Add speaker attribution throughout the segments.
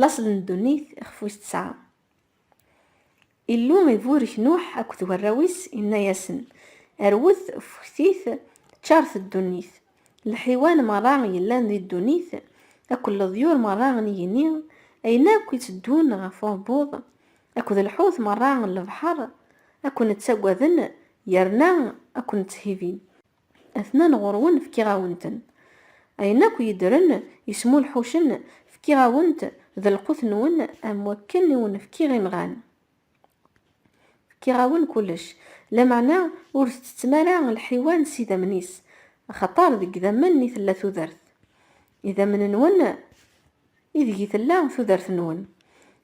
Speaker 1: Laṣel n ddunit ixef wis tesɛa. Illu iburek Nuḥ akked warraw-is, inna-yasen, Rwet, ffektit, ččaṛet ddunit. Lḥiwan meṛṛa yellan di ddunit akked leḍyur meṛṛa n yigenni, ayen akk itteddun ɣef uɛebbuḍ, akked lḥut meṛṛa n lebḥeṛ, ad ken-ttagaden yerna ad ken-tthibin. Atnan ɣur-wen fkiɣ-awen-ten. Ayen akk yeddren, yesmulḥucen, fkiɣ-awen-t d lqut-nwen am wakken i wen-fkiɣ imɣan. Fkiɣ-awen kullec, lameɛna ur tettettem ara lḥiwan s idammen-is, axaṭer deg idammen i tella tudert. Idammen-nwen. Ideg i tella tudert-nwen?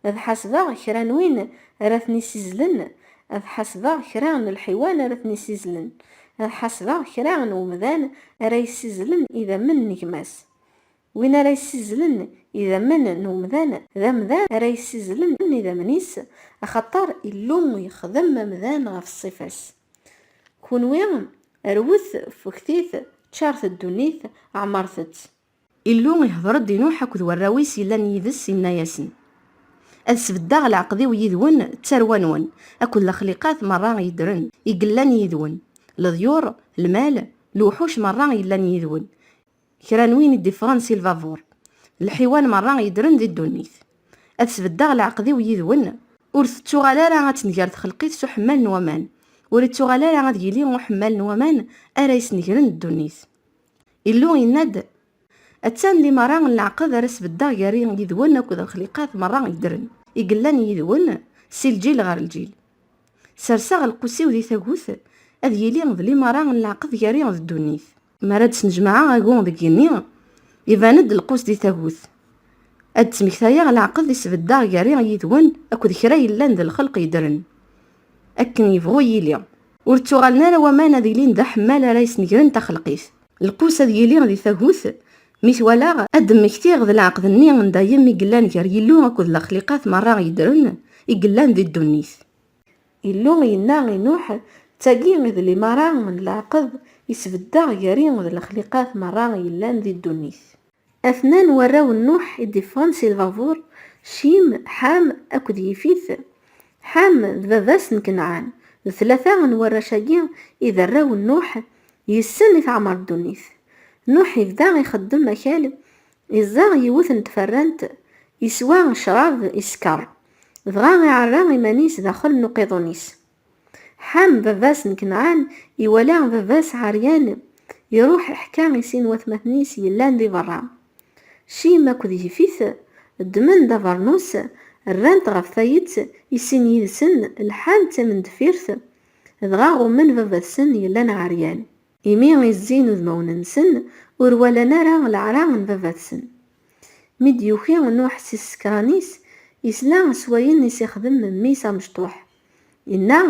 Speaker 1: Ad ḥasbeɣ kra n win ara ten-isizlen, ad ḥasbeɣ kra n lḥiwan ara ten-isizlen, ad ḥasbeɣ kra n wemdan ara yessizlen idammen n gma-s. Win ara yessizlen idammen n umdan, d amdan ara yessizlen idammen-is, axaṭer Illu yexdem amdan ɣef ṣṣifa-s. Kunwi, rwet, ffektit, ččaṛet ddunit, ɛemṛet-tt. Illu ihder-d i Nuḥ akked warraw-is yellan yid-s, inna-yasen, Ad sbeddeɣ leɛqed-iw yid-wen d tarwa-nwen, akked lexliqat merra yeddren, i yellan yid-wen, leḍyur, lmal, lewḥuc merra yellan yid-wen, kra n win i d-iffɣen si lbabur, lḥiwan merra yeddren di ddunit. Ad sbeddeɣ leɛqed-iw yid-wen, ur tettuɣal ara ad tenger txelqit s uḥemmal n waman, ur ittuɣal ara ad yili uḥemmal n waman ara yesnegren ddunit. Illu yenna-d, Attan limaṛa n leɛqed ara sbeddeɣ gar-i yid-wen akked lexliqat meṛṛa yeddren, i yellan yid-wen si lǧil ɣer lǧil. Serseɣ lqus-iw di tagut, ad yili d limaṛa n leɛqed gar-i d ddunit. Mi ara d-snejmaɛeɣ agu deg yigenni, iban-d lqus di tagut, ad d-ttmektayeɣ leɛqed i sbeddeɣ gar-i yid-wen akked kra yellan d lxelq yeddren, akken yebɣu yili. Ur ttuɣalen ara waman ad ilin d aḥemmal ara yesnegren taxelqit. Lqus ad yili di tagut mi t-walaɣ, ad d-mmektiɣ d leɛqed-nni n dayem i yellan gar Yillu akked lexliqat merra yeddren i yellan di ddunit. Illu yenna i Nuḥ, D tagi i d limaṛa n leɛqed i sbeddeɣ gar-i d lexliqat merra yellan di ddunit. Atnan n warraw n Nuḥ i d-iffɣen si lbabuṛ, Cim, Ḥam akked Yifit. Ḥam d baba-s n Kenɛan. D tlata n warrac-agi i d arraw n Nuḥ, yes-sen i teɛmer ddunit. Nuḥ ibda ixeddem akal, iẓẓeɣ yiwet n tferrant, iswa ccṛab, iskeṛ. Dɣa iɛerra iman-is daxel n uqiḍun-is. Ḥam, baba-s n Kenɛan, iwala baba-s ɛeryan, iruḥ iḥka i sin watmaten-is yellan di berra. Cim akked Yifit ddmen-d abernus, rran-t ɣef tayet, i sin yid-sen lḥan d timendeffirt, dɣa ɣummen baba-tsen yellan ɛeryan. Imi i zzin udmawen-nsen, ur walan ara leɛra n baba-tsen. Mi d-yuki Nuḥ si tsekra-nis, yesla s wayen i s-ixdem mmi-s amecṭuḥ. Inna,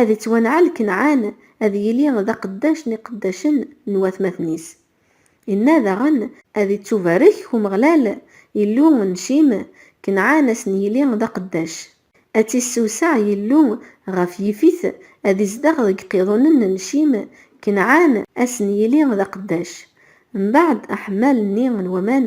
Speaker 1: Ad ittwanɛel Kenɛan, ad yili d aqeddac n iqeddacen n watmaten-is. Inna daɣen, Ad ittubarek Umeɣlal, Illu n Cim, Kenɛan ad sen-yili d aqeddac. Ad tt-issewseɛ Yillu ɣef yifit, ad izdeɣ deg iqiḍunen n Cim, Kenɛan ad sen-yili d aqeddac. Mbeɛd aḥemmal-nni n waman,